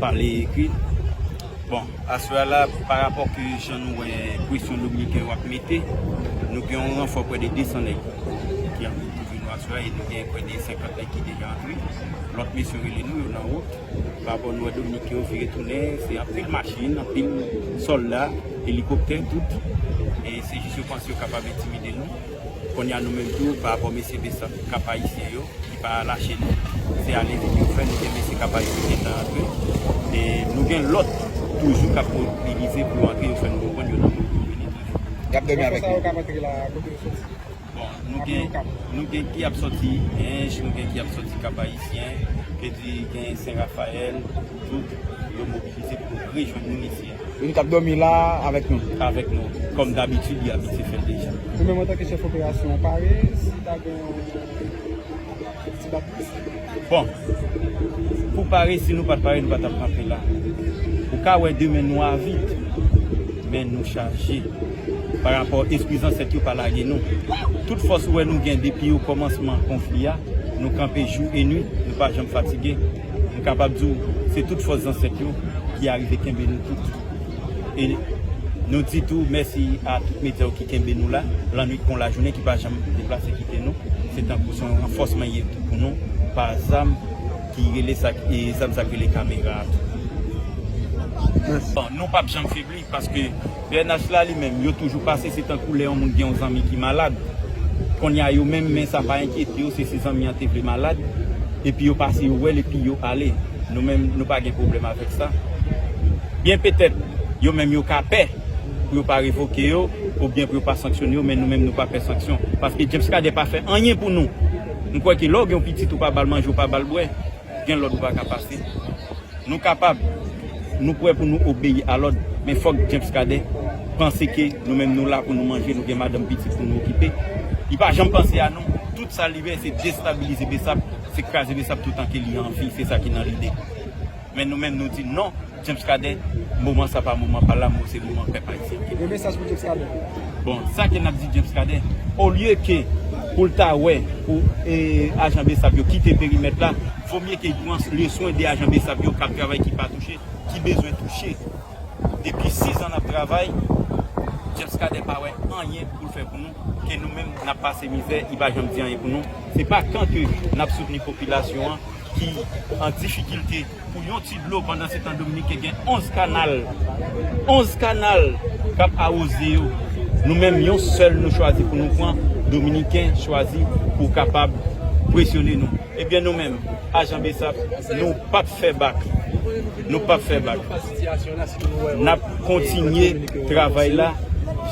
Pale e ekri. Bon, aswè a la, pa rapò ke jan nou wè presyon Dominiken yo ap mete, nou gen yon ranfò prè de 200 nèg ki ap vin kouvri nou aswè a e nou gen prè de 50 nèg ki deja antre. Lòt mesye yo rele nou, yo nan wout. Pa rapò nou wè Dominiken yo vire tounen, se anpil machin, anpil sòlda, elikoptè, tout. E se jis yo panse yo kapab entimide nou. Konnya nou menm tou pa rapò mesye Besa kap ayisyen yo ki pa lache nou se ale vini yo fè nou gen mesye kap ayisyen ki gentan antre e nou gen lòt toujou kap mobilize pou yo antre yo fè nou konprann yo nan moun pou yo vini toujou. Yap dòmi avèk nou. Bon nou gen nou gen ki ap sòti Hinche nou gen ki ap sòti kap ayisyen, vle di gen Sen Rafayèl tout yo mobilize pou yo rejwenn nou mesye. E li t ap dòmi la a avèk nou. Avèk nou, kòm dabitid li abitye fè l deja. Ou menm antanke chèf operasyon, ou pare si ta gen yon ti bat plis? Bon, pou pare, si nou pa t pare, nou pa t ap kanpe la. Ou ka wè demen nou avid, men nou chaje. Parapò espri zansèt yo pa lage nou. Tout fòs ou wè nou gen depi okòmansman konfli a, nou kanpe jou e nuit, nou pa janm fatige. M kapab di w se tout fòs zansèt yo ki arive kenbe nou tout. E nou di tou mèsi a tout meteo ki kenbe nou la, lannwit kon lajounen ki pa janm deplase kite nou. Se tankou se yon ranfòsman ye tou pou nou pa zam ki rele sa, zam sa ki rele kamera a tou. Nou pap janm febli. Paske pnh la li menm yo toujou pase se tankou lè yon moun gen yon zanmi ki malad konnya yo menm men sa pa enkyete yo se si zanmi an te vle malad epi yo pase yo wèl epi yo ale nou menm nou pa gen pwoblèm avèk sa byen petèt yo menm yo ka pè pou yo pa revoke yo oubyen pou yo pa sanksyone yo men nou menm nou pa pè sanksyon paske James Cadet pa fè anyen pou nou m kwè ke lè w gen yon pitit ou pa ba l manje ou pa ba l bwè. Gen lòd ou pa ka pase. Nou kapab, nou prè pou nou obeyi a lòd, men fòk James Cadet panse ke nou menm nou la pou nou manje, nou gen madanm pitit pou nou okipe. Li pa janm panse a nou. Tout sa li vè se destabilize Bsap, se kraze Bsap toutan ke li anvi. Se sa ki nan lide. Men nou menm nou di non. James Cadet moman sa pa moman pa lanmou se moman pèp ayisyen ki lanmou. Yon mesaj pou James Cadet. Bon sa ke nap di James Cadet olye ke poul ta wè pou ajan bsap yo kite perimèt la vo mye ke pran le swen de ajan bsap yo kap travay ki pa touche ki bezwen touche depi 6 ans nap travay James Cadet pa wè anyen poul fè pou nou ke nou menm nap pase mizè li pa janm di anyen pou nou se pa kan ke nap soutni popilasyon an. ki an difikilte pou yon ti dlo pandan se tan Dominiken gen 11 kanal 11 kanal kap awoze yo nou menm yon sèl nou chwazi pou nou pran Dominiken chwazi pou kapab presyone nou ebyen nou menm ajan bsap nou pap fè bak nou pap fè bak nap kontinye travay la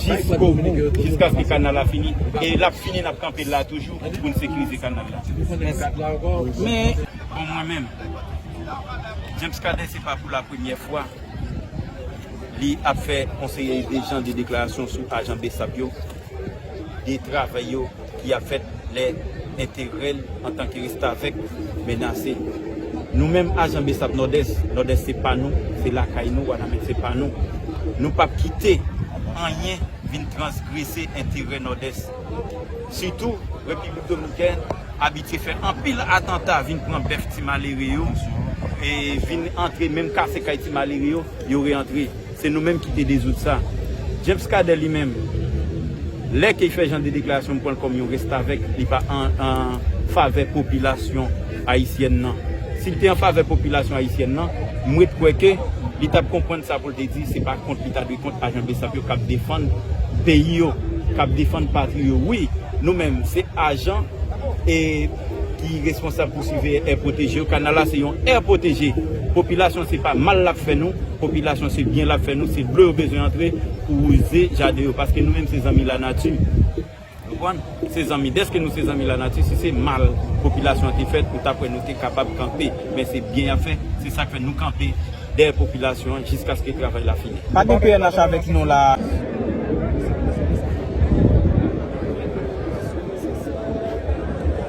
jiskobou jiskaske kanal la fini e lap fini nap kanpe la toujou. Ki pou n sekirize kanal la. Ou konnen kad la ankò. Men. Bon mwen menm. James Cadet se pa pou la premyè fwa li ap fè yon seri de jan de deklarasyon sou ajan bsap yo, de travay yo ki ap fèt lè enterè l antanke restavèk menase. Nou menm ajan bsap Nòdès, Nòdès se pa nou, se lakay nou, Wanament se pa nou. Nou p ap kite anyen vin transgrese enterè Nòdès. Sitou, Repiblik Dominikèn abitye fè anpil atanta vin pran bèf ti malere yo, e vin antre menm kase kay ti malere yo, yo reantre. Se nou menm ki te dezoud sa. James Cadet li menm, lè ke li fè jan de deklarasyon m pran l kòm yon restavèk, li pa an favè popilasyon ayisyèn nan. Si l te an favè popilasyon ayisyèn nan, m ret kwè ke li t ap konprann sa. Pou te di se pa kont li ta dwe kont ajan bsap yo kap defann peyi yo kap defann patri yo wi nou menm se ajan e ki responsab pou siveye è pwoteje yo kanal la se yon è pwoteje popilasyon se pa mal lap fè nou popilasyon se byen lap fè nou se dlo yo bezwen antre pou wouze jaden yo paske nou menm se zanmi lanati. Konprann? Se zanmi. Dèske nou se zanmi lanati, si se mal popilasyon an te fèt, ou ta kwè nou te kapab kanpe. Men se byen y ap fè. Se sa k fè nou kanpe dèyè popilasyon an jiskaske travay la fini. Pa gen pnh avèk nou la a.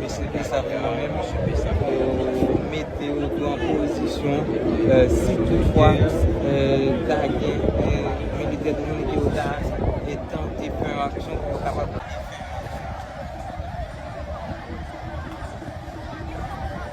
Mesye fè sa pou mwen menm, mesye fè sa pou mete yo tou an pozisyon si tout fwa ta gen militè dominik yo ta tante fè yon aksyon pou yo kapab.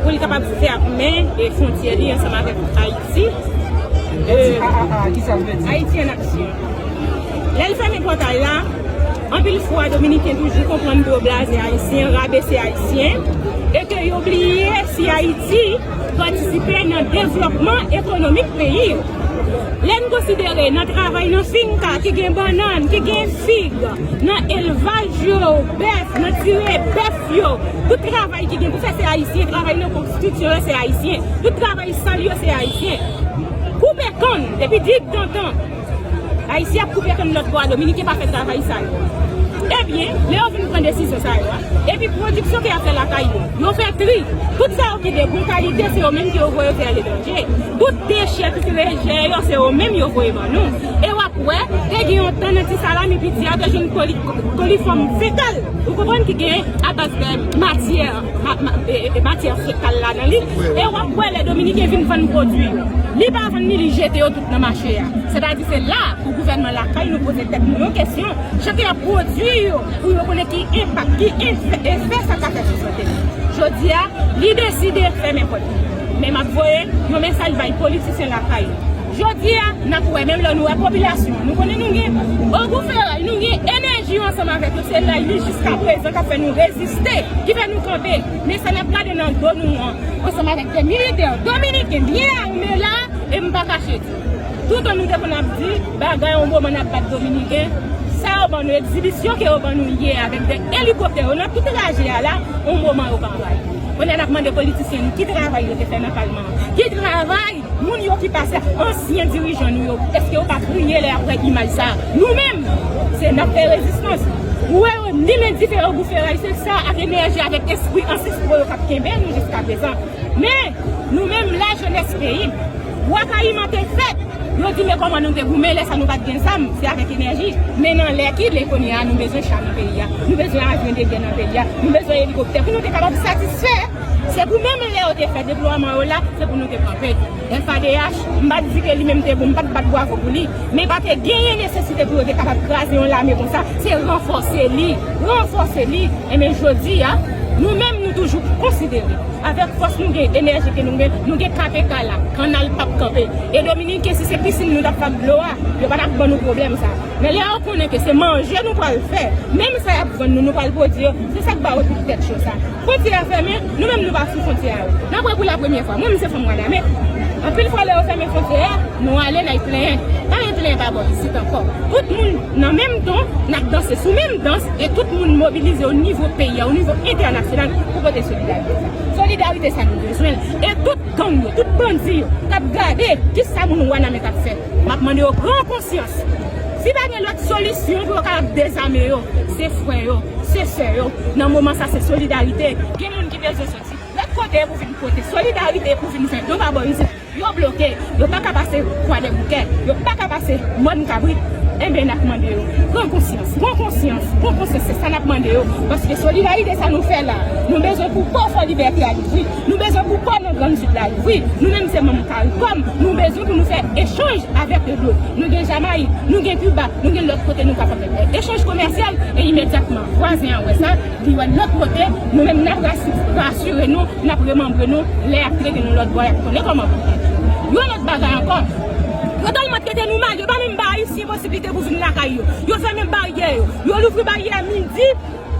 pou li kapab fèmen fontyè li ansanm avèk Ayiti, Ayiti an aksyon. Lè l fèmen pòtay la, anpil fwa Dominiken toujou konprann dlo blaze Ayisyen, rabese Ayisyen, e ke yo bliye si Ayiti patisipe nan devlòpman ekonomik peyi yo. Lè n konsidere nan travay nan finka ki gen bannann, ki gen fig, nan elvaj yo, bèf, nan tire bèf, yo tout travay ki gen pou fè se ayisyen travay nan konstitsyon an se ayisyen tout travay sal yo se ayisyen koupe kann depi dig dantan ayisyen ap koupe kann lòt bò a dominiken pa fè travay sa yo ebyen lè yo vin pran desizyon sa yo a epi pwodiksyon ke y ap fè lakay yo yo fè tri tout sa yo ki de bon kalite se yo menm ke yo voye fè aletranje tout dechè tout rejè yo se yo menm yo voye ban nou. E wap wè, te gen yon tan nan ti salami piti a te jwenn kolifòm fekal, ou konprann ki gen abaz de matyè matyè fekal la nan li, e wap wè lè dominiken vin vann pwodui yo, li pa vann ni li jete yo tout nan mache a. Sètadi se la pou gouvènman lakay nou poze tèt nou yon kesyon, jan ke yap pwodui yo pou yo konnen ki enpak, ki efè sa ka fè sou sante nou. Jodi a, li deside fèmen pòt li. Men map voye yon mesaj bay politisyen lakay nou. Jodi a, n ap wè, menm lè nou wè popilasyon an, nou konnen nou gen ogou feray, nou gen enèji yo ansanm avèk yo, se lay li jiskaprezan k ap fè nou reziste, ki fè nou kanpe. Men sa n ap gade nan do nou an, ansanm avèk de militè dominiken byen ame la, e m pa kache di, toutan nou te konn ap di, bagay yon moman n ap bat dominiken, sa yo ban nou, egzibisyon ke yo ban nou yè a avèk de elikoptè yo nan tout trajè a la, yon moman yo pa bay. Kounye a n ap mande politisyen nou ki travay yo te fè nan palman an? Ki travay? Moun yo ki pase ak ansyen dirijan nou yo eske yo pa kriye lè yap wè imaj sa nou menm se nap fè rezistans ou wè yo ni men dife yo boufe ray se sa ak enèji avèk espri ansestro yo kap kenbe nou jiska prezan men nou menm la jenès peyi bwa kayiman te fèt yo di men kòman nou te goumen lè sa nou pat gen zam se avèk enèji men nan lè ki lè kounye a nou bezwen cha nan peyi a nou bezwen avyon de gè nan peyi a nou bezwen elikoptè pou nou te kapab satisfè. Se pou menm lè yo te fè deplwaman yo la, se pou nou te kanpe. FADH, m pa di ke li menm te bon, m pa t bat bwavo pou li, men pa te genyen nesesite pou yo te kapab kraze yon lame konsa, se ranfòse li, ranfòse li. Enben jodi a, nou menm nou toujou konsidere, avèk fòs nou gen, enèji ke nou gen, nou gen KPK la, kannal p ap kanpe. E Dominiken, si se pisin nou t ap bat dlo a, yo pa t ap ban nou pwoblèm sa a. Men lè yo konnen ke se manje nou pral fè, menm sa y ap vann nou, nou pral pwodui yo, se sa k ba yo tout tèt cho sa. Fwontyè a fèmen, nou menm nou pa sou fwontyè a. Nap wè pou la premyè fwa. Mwen menm se fanm waname. Anpil fwa lè yo fèmen fwontyè a, nou ale na'y plenyen. Pa gen plenyen pa bò isit ankò. Tout moun nan menm ton, nap danse sou menm dans e tout moun mobilize o nivo peyi a, o nivo entènasyonal pou pote solidarite sa. Solidarite sa nou bezwen l. E tout gang yo, tout bandi yo kap gade kisa moun wanament ap fè. Map mande yo pran konsyans. Si pa gen lòt solisyon pou yo kapab dezame yo, se frè yo, se sè yo, nan moman sa se solidarite. Gen moun ki bezwen soti lòt kote pou vin pote solidarite pou vin jwenn yo pa bò isit. Yo bloke, yo pa ka pase kwadèboukè, yo pa ka pase mòn kabrit. Enben nap mande yo pran konsyans, pran konsyans, pran konsyans se sa nap mande yo paske solidarite sa nou fè la nou bezwen pou pò Fò Libète a louvri. Nou bezwen pou pò nan Grand Sud la louvri. Nou menm se manm caricom, nou bezwen pou nou fè echanj avèk yo dlo. Nou gen Jamayik, nou gen Kiba, nou gen lòt kote nou kapab fè echanj komèsyal e imedyatman vwazen an wè sa, li wè lòt kote, nou menm n ap rasire nou, n ap remanbre nou, lè y ap trete nou lòt bò y ap konnen kòman pou trete nou. Yon lòt bagay ankò, yo tèlman trete nou mal, yo pa menm ba Ayisyen posiblite pou vin lakay yo. Yo fèmen baryè yo. Yo louvri baryè midi.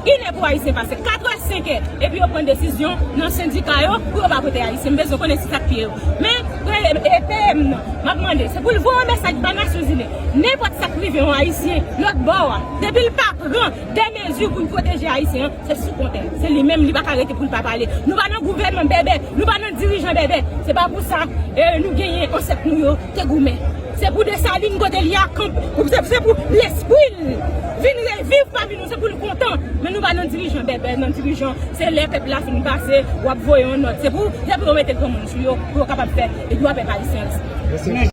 1 è pou Ayisyen pase 4 è, 5 è epi yo pran desizyon nan sendika yo pou yo pa vote Ayisyen. M bezwen konnen si sa k fye yo. Men, premye PM nan, m ap mande se pou l voye yon mesaj bay Nasyonzini, nenpòt sa k rive yon Ayisyen lòtbò a, depi l pa pran dè mezi pou l pwoteje Ayisyen an, se sou kontè l. Se li menm, li pa ka rete pou l pa pale. Nou pa nan gouvènman bèbè, nou pa nan dirijan bèbè. Se pa pou sa nou genyen ansèt nou yo te goumen. Se pou Desalin kote li a kanpe, se pou lespri l vin reviv pami nou. Se pou nou kontan, men nou pa nan dirijan bèbè, nan dirijan se lè pèp la fin pase wap voye yon nòt. Se pou yo mete granmoun sou yo pou yo kapab fè dwa pèp ayisyen respekte.